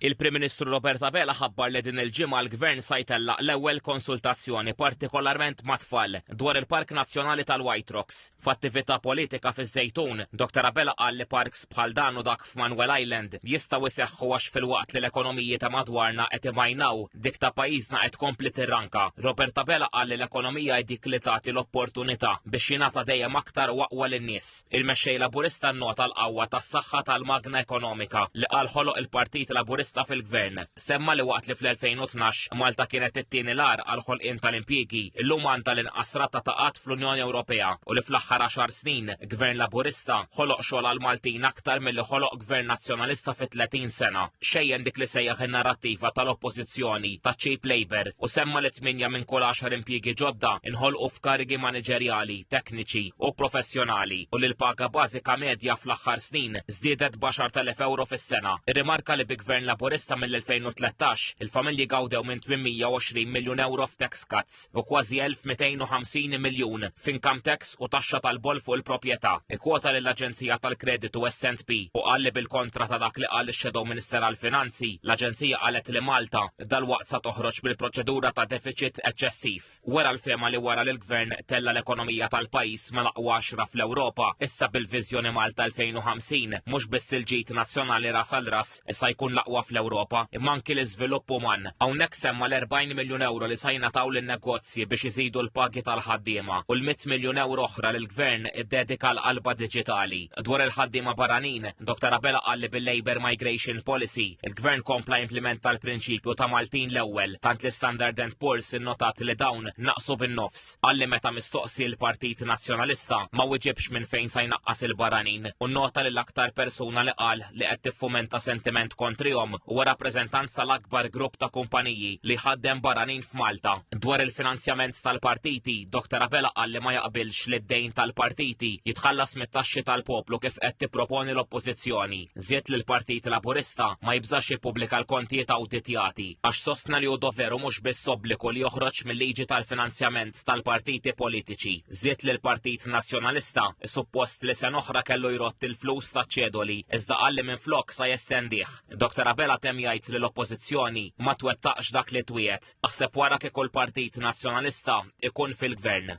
Il-Prim Ministru Robert Abela ħabbar li din il-ġimgħa l-Gvern sa jtellaq l-ewwel konsultazzjoni partikolarment mat-tfal dwar il-Park Nazzjonali tal-White Rocks. F'attività politika fiż-Żejtun, Dr Abela qal li parks bħal dan u dak f'Manuel Island jistgħu jseħħu għax filwaqt li l-ekonomiji ta' madwarna qed imajnaw, Dik ta' pajjiżna qed tkompli tirranka. Robert Abela qal li l-ekonomija hi dik li tagħti l-opportunità biex jingħata dejjem aktar u aqwa lin-nies. Il-Mexxej Laburista nnota l-qawwa tas-saħħa tal-magna ekonomika li qal ħoloq il-Partit Laburista fil-Gvern. Semma li waqt li fl-2012 Malta kienet it-tieni l-agħar għall-ħolqien tal-impjiegi, illum għandha l-inqas rata ta' qgħad fl-Unjoni Ewropea u li fl-aħħar għaxar snin Gvern Laburista ħoloq xogħol għall-Maltin aktar milli ħoloq Gvern Nazzjonalista fi 30 sena xejjen dik li sejjaħ in-narrattiva tal-Oppożizzjoni ta' cheap labour u semma li tmienja minn kull għaxar impjiegi ġodda nħolqu f'karigi maniġerjali, tekniċi u professjonali u li l-paga bażika medja fl-aħħar snin żdiedet b'10,000 ewro fis-sena. Irrimarka li bi Gvern Laburista mill-2013 il-familji gawdew minn 820 miljun ewro f'tax cuts u kważi 1250 miljun f'income tax u taxxa tal-boll fuq il-proprjetà, ikkwota lill-aġenzija tal-kreditu SNP u qal li bil-kontra ta' dak li qal ix-Shadow Minister għall-Finanzi, l-aġenzija qalet li Malta dalwaqt sa toħroġ mill-proċedura ta' defiċit eċċessiv. Wera l-fehma li wara li l-Gvern tella' l-ekonomija tal-pajjiż mal-aqwa għaxra fl-Ewropa, issa bil-viżjoni Malta 2050 mhux biss il-ġid nazzjonali ras għal ras sa jkun l-aqwa fl-Ewropa imma anki l-iżvilupp uman. Hawnhekk semma l-40 miljun ewro li sa jingħataw lin-negozji. servizzi biex iżidu l-pagi tal-ħaddiema u l-mitt miljun ewro oħra li l-Gvern iddedika għall-qalba diġitali. Dwar il-ħaddiema barranin, Dottor Abela qal li bil-Labour Migration Policy, il-Gvern kompla jimplimenta l-prinċipju ta' Maltin l-ewwel, tant li Standard and Poor's innotat li dawn naqsu bin-nofs. Qal li meta mistoqsi l-Partit Nazzjonalista ma wiġibx minn fejn sa jnaqqas il-barranin u nnota li l-aktar persuna li qal li qed tiffumenta sentiment kontrihom huwa rappreżentant tal-akbar grupp ta' kumpaniji li jħaddem barranin f'Malta. Dwar il-finanzjament tal-partiti, Dr Abela qal li ma jaqbilx li d-dejn tal-partiti jitħallas mit-taxxi tal-poplu kif qed tipproponi l-Oppożizzjoni. Żied li l-Partit Laburista ma jibżax jippubblika l-kontijiet awditjati għax sostna li hu doveru mhux biss obbligu li joħroġ mil-liġi tal-finanzjament l-interess tal-partiti politiċi. Żied li l-Partit Nazzjonalista suppost li sena oħra kellu jrodd il-flus taċ-ċedoli iżda qal li minflok sa jestendih. Dr Abela temm jgħid li l-Oppożizzjoni ma twettaqx dak li twiegħed. Aħseb wara kieku l-Partit Nazzjonalista ikun fil-Gvern.